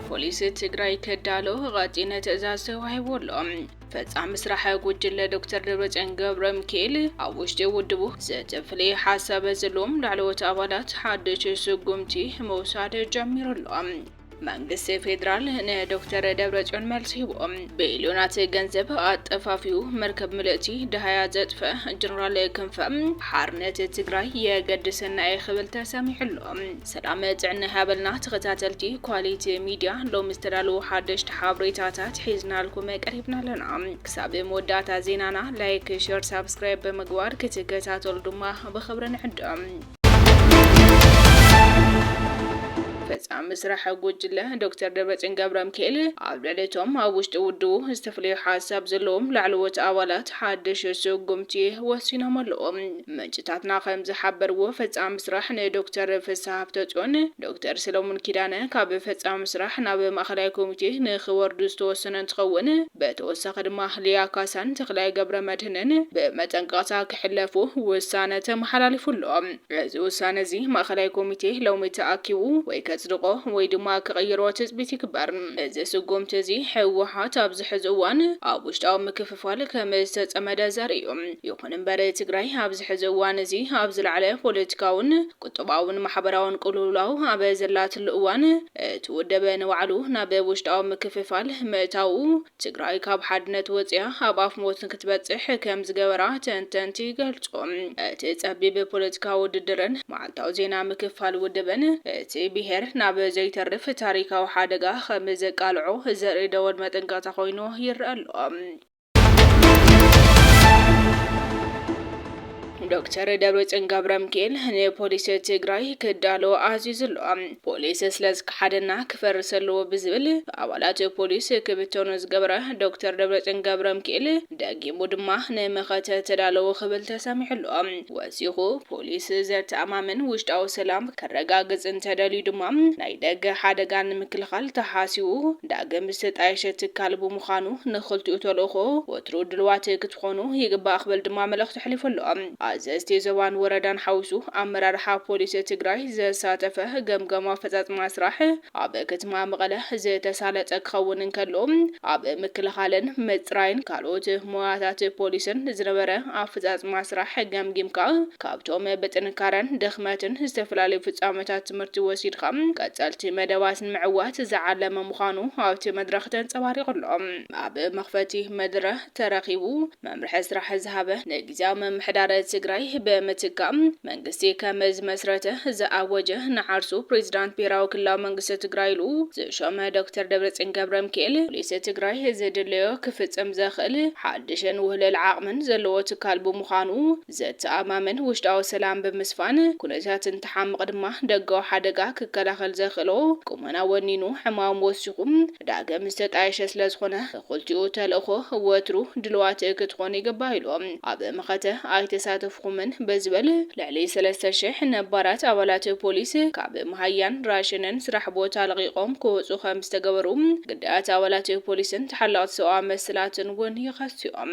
ፖሊስ ትግራይ ከዳሎ ቐፂነ ትእዛዝ ተዋሂቡ ኣሎ። ፈፃሚ ስራሕ ጉጅለ ዶክተር ደብረፅዮን ገብረ ሚካኤል ኣብ ውሽጢ ውድቡ ዘተፍለየ ሓሳብ ዘለዎም ላዕለዎት ኣባላት ሓድሽ ስጉምቲ ምውሳድ ጀሚሩ ኣሎ። መንግስቲ ፌዴራል ንዶክተር ደብረፅዮን መልሲ ሂቡ። ቢልዮናት ገንዘብ ኣጠፋፊኡ መርከብ ምልእቲ ደሃያ ዘጥፈ ጀነራል ክንፈ ሓርነት ትግራይ የገድሰና እየ ክብል ተሰሚዑ ኣሎ። ሰላም ጥዕና ይሃበልና ተኸታተልቲ ኳሊቲ ሚድያ፣ ሎሚ ዝተዳለዉ ሓደሽቲ ሓበሬታታት ሒዝናልኩም ቀሪብና ኣለና። ክሳብ መወዳእታ ዜናና ላይክ፣ ሸር፣ ሳብስክራይብ ብምግባር ክትከታተሉ ድማ ብኽብሪ ንዕድም። ፈጻሚ ስራሕ ጉጅለ ዶክተር ደብረጽዮን ገብረምኪኤል ኣብ ልዕሊ እቶም ኣብ ውሽጢ ውድቡ ዝተፈለዩ ሓሳብ ዘለዎም ላዕለዎት ኣባላት ሓድሽ ስጉምቲ ወሲኖም ኣለዉ። ምንጭታትና ከም ዝሓበርዎ ፈጻሚ ስራሕ ንዶክተር ፍስሃ ሃፍተጽዮን ዶክተር ሰለሙን ኪዳነ ካብ ፈጻሚ ስራሕ ናብ ማእኸላይ ኮሚቴ ንኽወርዱ ዝተወሰነ እንትኸውን፣ ብተወሳኺ ድማ ሊያ ካሳን ተኽላይ ገብረመድህንን ብመጠንቀቕታ ክሕለፉ ውሳነ ተመሓላሊፉ ኣሎ። እዚ ውሳነ እዚ ማእኸላይ ኮሚቴ ሎሚ ተኣኪቡ ወይ ከፅድቖ ወይ ድማ ክቕይሮ ትፅቢት ይግበር። እዚ ስጉምቲ እዚ ህወሓት ኣብዚ ሕዚ እዋን ኣብ ውሽጣዊ ምክፍፋል ከምዝተፀመደ ዘርኢ እዩ። ይኹን እምበር ትግራይ ኣብዚ ሕዚ እዋን እዚ ኣብ ዝለዓለ ፖለቲካውን ቁጠባውን ማሕበራውን ቅልውላው ኣብ ዘላትሉ እዋን እቲ ውድብ ንባዕሉ ናብ ውሽጣዊ ምክፍፋል ምእታዉ ትግራይ ካብ ሓድነት ወፂኣ ኣብ ኣፍ ሞት ንክትበፅሕ ከምዝገበራ ተንተንቲ ይገልፁ። እቲ ፀቢብ ፖለቲካዊ ውድድርን መዓልታዊ ዜና ምክፋል ውድብን እቲ ብሄር ናብ ዘይተርፍ ታሪካዊ ሓደጋ ከምዘቃልዖ ዘርኢ ደወል መጠንቀቕታ ኮይኑ ይረኣ ኣሎ። ዶክተር ደብረፅዮን ገብረምኪኤል ንፖሊሲ ትግራይ ክዳሎ ኣዚዙ ኣሎ። ፖሊስ ስለዝከሓደና ክፈርስ ኣለዎ ብዝብል ብኣባላት ፖሊስ ክብተኑ ዝገበረ ዶክተር ደብረጽዮን ገብረምኪኤል ደጊሙ ድማ ንመኸተ ተዳለዉ ክብል ተሰሚዑ ኣሎ። ወሲኹ ፖሊስ ዘተኣማምን ውሽጣዊ ሰላም ከረጋግጽ እንተደልዩ ድማ ናይ ደገ ሓደጋ ንምክልኻል ተሓሲቡ ዳግም ዝተጣየሸ ትካል ብምዃኑ ንኽልቲኡ ተልእኾ ወትሩ ድሉዋት ክትኾኑ ይግባእ ክብል ድማ መልእኽቱ ተሕሊፉ ኣሎ። ኣዘዝቲ ዞባን ወረዳን ሓዊሱ ኣመራርሓ ፖሊስ ትግራይ ዘሳተፈ ገምጋም ኣፈፃፅማ ስራሕ ኣብ ክትማ መቐለ ዝተሳለጠ ክኸውን እንከሎ ኣብ ምክልኻልን ምፅራይን ካልኦት ሞያታት ፖሊስን ዝነበረ ኣፈፃፅማ ስራሕ ገምጊምካ ካብቶም ብጥንካረን ድኽመትን ዝተፈላለዩ ፍፃመታት ትምህርቲ ወሲድኻ ቀፀልቲ መደባት ንምዕዋት ዝዓለመ ምዃኑ ኣብቲ መድረኽ ተንፀባሪቑ ኣሎ። ኣብ መኽፈቲ መድረ ተረኺቡ መምርሒ ስራሕ ዝሃበ ንግዝያዊ ምምሕዳር ትግራይ ብምትካእ መንግስቲ ከም ዝመስረተ ዝኣወጀ ንዓርሱ ፕሬዚዳንት ብሄራዊ ክልላዊ መንግስቲ ትግራይ ኢሉ ዝሾመ ዶክተር ደብረፅዮን ገብረምኪኤል ፖሊስ ትግራይ ዝድለዮ ክፍፅም ዘኽእል ሓዱሽን ውህሉል ዓቕምን ዘለዎ ትካል ብምዃኑ ዘተኣማምን ውሽጣዊ ሰላም ብምስፋን፣ ኩነታት እንትሓምቕ ድማ ደጋዊ ሓደጋ ክከላኸል ዘኽእሎ ቁመና ወኒኑ ዕማሙ ወሲኹ ዳግም ዝተጣየሸ ስለዝኾነ እኹልቲኡ ተልእኾ ወትሩ ድሉዋት ክትኾኑ ይግባእ ኢሉ። ኣብ መኸተ ኣይተሳተፍኹምን ብዝብል ልዕሊ ሰለስተ ሽሕ ነባራት ኣባላት ፖሊስ ካብ መሃያን ራሸንን ስራሕ ቦታ ለቒቖም ክወጹ ከምዝተገበሩ ግዳያት ኣባላት ፖሊስን ተሓለቕቲ ሰብኣዊ መሰላትን እውን ይኸሱ'ዮም።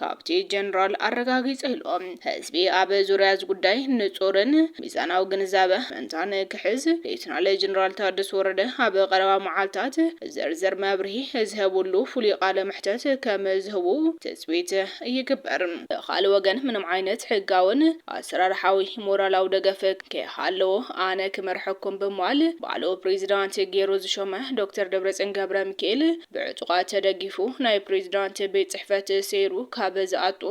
ካብቲ ጀነራል ኣረጋጊጸ ኢሉ። ህዝቢ ኣብ ዙርያ እዚ ጉዳይ ንጹርን ሚዛናዊ ግንዛበ ምእንታ ንክሕዝ፣ ሌተናል ጀነራል ታደሰ ወረደ ኣብ ቀረባ መዓልታት ዝርዝር መብርሂ ዝህብሉ ፍሉይ ቃለ መሕተት ከም ዝህቡ ትጽቢት ይግበር። ብኻልእ ወገን ምንም ዓይነት ሕጋውን ኣሰራርሓዊ ሞራላዊ ደገፍ ከይሃለዎ ኣነ ክመርሐኩም ብምባል ባዕሉ ፕሬዚዳንት ገይሩ ዝሾመ ዶክተር ደብረጽዮን ገብረሚካኤል፣ ብዕጡቓት ተደጊፉ ናይ ፕሬዚዳንት ቤት ፅሕፈት ሰይሩ ካብ ዝኣቱ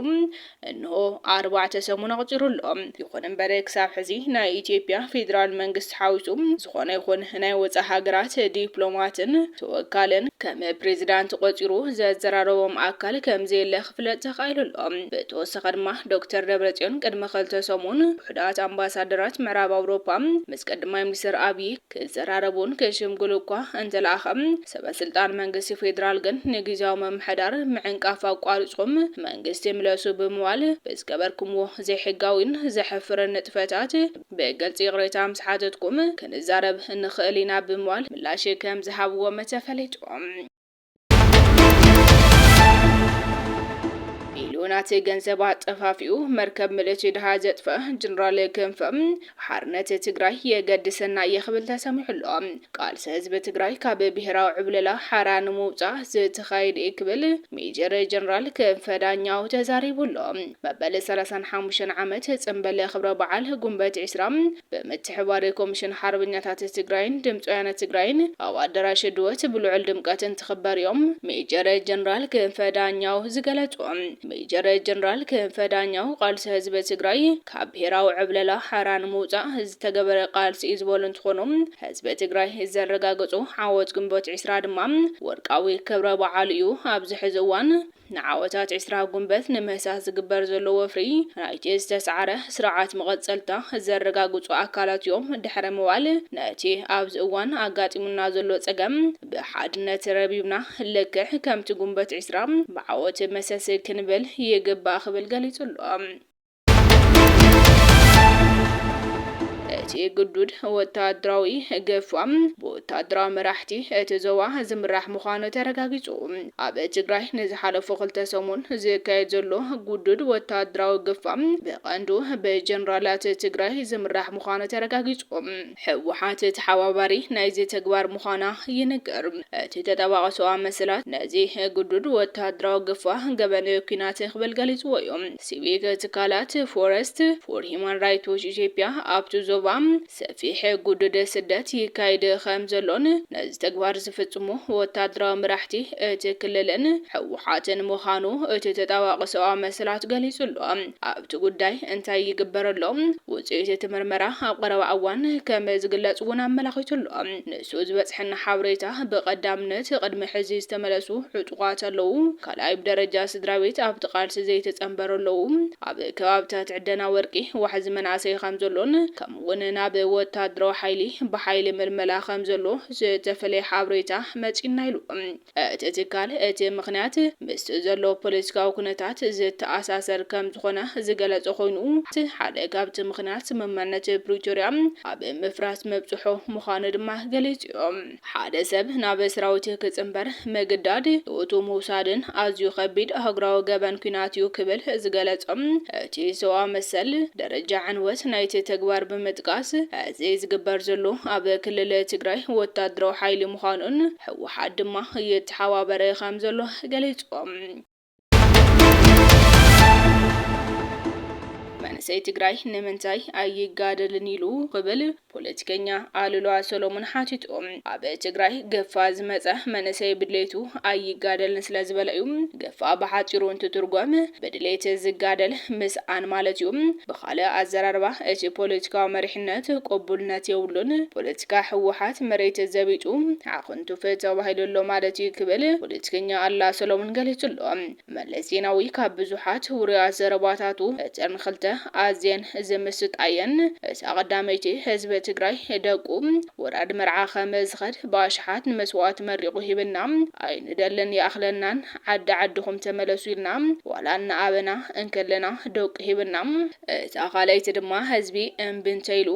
እንሆ ኣርባዕተ ሰሙን ኣቑፂሩ ኣሎ። ይኹን እምበር ክሳብ ሕዚ ናይ ኢትዮጵያ ፌዴራል መንግስቲ ሓዊሱ ዝኾነ ይኹን ናይ ወፃእ ሃገራት ዲፕሎማትን ተወካልን ከም ፕሬዚዳንት ቆፂሩ ዘዘራረቦም ኣካል ከምዘየለ ክፍለጥ ተኻኢሉ ኣሎ። ብተወሳኺ ድማ ዶክተር ደብረፅዮን ቅድሚ ክልተ ሰሙን ውሑዳት ኣምባሳደራት ምዕራብ ኣውሮፓ ምስ ቀዳማይ ሚኒስትር ኣብዪ ክዘራረቡን ክሽምግሉ እኳ እንተለኣኸ፣ ሰበስልጣን መንግስቲ ፌደራል ግን ንጊዚያዊ ምምሕዳር ምዕንቃፍ ኣቋሪፅኩም መንግስቲ ምለሱ ብምባል ብዝገበርኩምዎ ዘይሕጋዊን ዘሕፍርን ንጥፈታት ብግልፂ ይቕሬታ ምስ ሓተትኩም ክንዛረብ ንኽእል ኢና ብምባል ምላሽ ከምዝሃብዎም ተፈሊጡ። ቢልዮናት ገንዘብ ኣጠፋፊኡ መርከብ ምልእቲ ድሃ ዘጥፍአ ጀነራል ክንፈ ሓርነት ትግራይ የገድሰና እየ ክብል ተሰሚዑ ኣሎ። ቃልሲ ህዝቢ ትግራይ ካብ ብሄራዊ ዕብለላ ሓራ ንምውፃእ ዝተኻየደ እዩ ክብል ሜጀር ጀነራል ክንፈ ዳኛው ተዛሪቡ ኣሎ። መበል ሰላሳን ሓሙሽተን ዓመት ጽምበል ክብረ በዓል ጉንበት ዕስራ ብምትሕብባር ኮሚሽን ሓርበኛታት ትግራይን ድምፂ ወያነ ትግራይን ኣብ ኣደራሽ ድወት ብልዑል ድምቀት እንትኽበር እዮም ሜጀር ጀነራል ክንፈ ዳኛው ዝገለፁ። ሜጀር ጀነራል ክንፈ ዳኛው ቃልሲ ህዝቢ ትግራይ ካብ ብሄራዊ ዕብለላ ሓራ ንምውፃእ ዝተገበረ ቃልሲ እዩ ዝበሉ እንትኾኑ ህዝቢ ትግራይ ዘረጋገፆ ዓወት ግንቦት ዕስራ ድማ ወርቃዊ ክብረ በዓሉ እዩ ኣብዚ ሕዚ እዋን ንዓወታት ዕስራ ጉንበት ንምህሳስ ዝግበር ዘሎ ወፍሪ፣ ናይቲ ዝተሰዓረ ስርዓት መቐጸልታ ዘረጋግጹ ኣካላት እዮም። ድሕሪ ምባል፣ ነቲ ኣብዚ እዋን ኣጋጢሙና ዘሎ ጸገም ብሓድነት ረቢብና ልክዕ ከምቲ ጉንበት ዕስራ ብዓወት መሰስ ክንብል ይግባእ ክብል ገሊጹ'ሎ። እቲ ግዱድ ወተሃደራዊ ግፋ ብወተሃደራዊ መራሕቲ እቲ ዞባ ዝምራሕ ምዃኑ ተረጋጊጹ። ኣብ ትግራይ ንዝሓለፉ ክልተ ሰሙን ዝካየድ ዘሎ ግዱድ ወተሃደራዊ ግፋ ብቐንዱ ብጀነራላት ትግራይ ዝምራሕ ምዃኑ ተረጋጊጹ። ህወሓት ተሓባባሪ ናይዚ ተግባር ምዃና ይንገር። እቲ ተጣባቒ ሰውኣዊ መሰላት ነዚ ግዱድ ወተሃደራዊ ግፋ ገበን ኲናት ክብል ገሊጽዎ'ዩ። ሲቪክ ትካላት ፎረስት ፎር ሂዩማን ራይት ዎች ኢትዮጵያ ኣብቲ ዞባ ሰፊሕ ግዱድ ስደት ይካየድ ከምዘሎን ነዚ ተግባር ዝፍጽሙ ወተሃደራዊ መራሕቲ እቲ ክልልን ህወሓትን ምዃኑ እቲ ተጣባቒ ሰውኣዊ መሰላት ገሊጹ'ሎ። ኣብቲ ጉዳይ እንታይ ይግበር ኣሎ? ውጽኢት እቲ ምርመራ ኣብ ቐረባ እዋን ከም ዝግለጽ እውን ኣመላኺቱ ኣሎ። ንሱ ዝበጽሐና ሓበሬታ ብቐዳምነት ቕድሚ ሕዚ ዝተመለሱ ዕጡቓት ኣለዉ፣ ካልኣይ ብደረጃ ስድራቤት ኣብቲ ቓልሲ ዘይተጸንበሩ ኣለዉ፣ ኣብ ከባብታት ዕደና ወርቂ ዋሕዚ መናእሰይ ከም ዘሎን ከምኡ እውን ናብ ወታደራዊ ሓይሊ ብሓይሊ ምልመላ ከም ዘሎ ዝተፈለየ ሓበሬታ መጺኡና ኢሉ። እቲ ትካል እቲ ምኽንያት ምስቲ ዘሎ ፖለቲካዊ ኩነታት ዝተኣሳሰር ከምዝኾነ ዝገለፀ ኮይኑ ሓደ ካብቲ ምኽንያት ስምምዕነት ፕሪቶሪያ ኣብ ምፍራስ ምብፅሑ ምዃኑ ድማ ገሊፁ ዩ። ሓደ ሰብ ናብ ሰራዊት ክፅምበር ምግዳድ፣ ህይወቱ ምውሳድን ኣዝዩ ከቢድ ኣህጉራዊ ገበን ኲናት ዩ ክብል ዝገለፆ እቲ ሰብኣዊ መሰል ደረጃ ዕንወት ናይቲ ተግባር ብምጥቃስ እዚ ዝግበር ዘሎ ኣብ ክልል ትግራይ ወታደራዊ ሓይሊ ምዃኑን ህወሓት ድማ ይተሓባበር ከምዘሎ ገሊፁ። መንእሰይ ትግራይ ንምንታይ ኣይጋደልን ኢሉ ክብል ፖለቲከኛ ኣሉላ ሰሎሙን ሓቲቱ። ኣብ ትግራይ ገፋ ዝመፀ መንእሰይ ብድሌቱ ኣይጋደልን ስለዝበለ እዩ ክፋእ ብሓጺሩ እንትትርጎም ብድሌት ዝጋደል ምስኣን ማለት እዩ። ብኻልእ ኣዘራርባ እቲ ፖለቲካዊ መሪሕነት ቅቡልነት የብሉን፣ ፖለቲካ ህወሓት መሬት ዘቢጡ ዓኹንቱፍ ተባሂሉ ኣሎ ማለት እዩ ክብል ፖለቲከኛ ኣላ ሰሎሙን ገሊጹ ኣሎ። መለስ ዜናዊ ካብ ብዙሓት ውሩያት ዘረባታቱ እተን ክልተ ኣዝየን ዝምስጣ እየን። እዛ ቀዳመይቲ ህዝቢ ትግራይ ደቁ ውራድ መርዓ ከም ዝኸድ ብኣሽሓት ንመስዋእቲ መሪቑ ሂብና ኣይንደልን ይኣኽለናን ዓዲ ዓድኹም ተመለሱ ኢልና ዋላ እናኣበና እንከለና ደቁ ሂብና። እታ ካልኣይቲ ድማ ህዝቢ እምቢ እንተኢሉ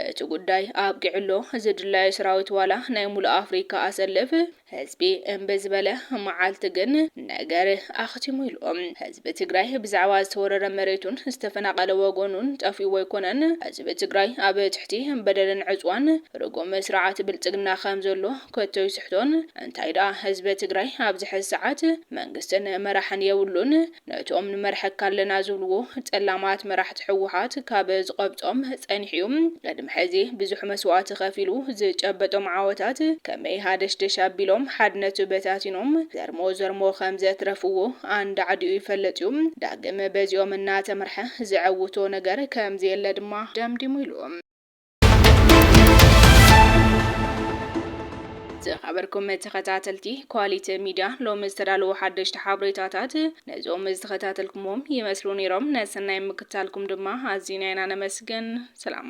እቲ ጉዳይ ኣብቂዑ ኣሎ ዝድላዩ ስራዊት ዋላ ናይ ሙሉእ ኣፍሪካ ኣሰልፍ ህዝቢ እምቢ ዝበለ መዓልቲ ግን ነገር ኣኽቲሙ ኢሉ። ህዝቢ ትግራይ ብዛዕባ ዝተወረረ መሬቱን ዝተፈናቐለ ወገኑን ጠፊእዎ ኣይኮነን። ህዝቢ ትግራይ ኣብ ትሕቲ በደልን ዕፅዋን ርጉም ስርዓት ብልፅግና ከም ዘሎ ከቶ ኣይስሕቶን። እንታይ ድኣ ህዝቢ ትግራይ ኣብዚ ሕዚ ሰዓት መንግስትን መራሕን የብሉን። ነቶም ንመርሐካ ኣለና ዝብልዎ ጸላማት መራሕቲ ሕወሓት ካብ ዝቐብጾም ጸኒሑ እዩ። ቅድሚ ሕዚ ብዙሕ መስዋእቲ ከፊሉ ዝጨበጦም ዓወታት ከመይ ሃደሽደሽ ኣቢሎም ሓድነቱ በታቲኖም ዘርሞ ዘርሞ ከም ዘትረፍዎ ኣንዳዕዲኡ ይፈልጥ እዩ። ዳግም በዚኦም እናተመርሐ ዘዐውቶ ነገር ከም ዘየለ ድማ ደምዲሙ ኢሉ። ዝኸበርኩም ተኸታተልቲ ኳሊቲ ሚድያ ሎሚ ዝተዳለዉ ሓደሽቲ ሓበሬታታት ነዞም ዝተኸታተልኩሞም ይመስሉ ነይሮም። ነሰናይ ምክታልኩም ድማ ኣዚና ኢና ነመስግን። ሰላም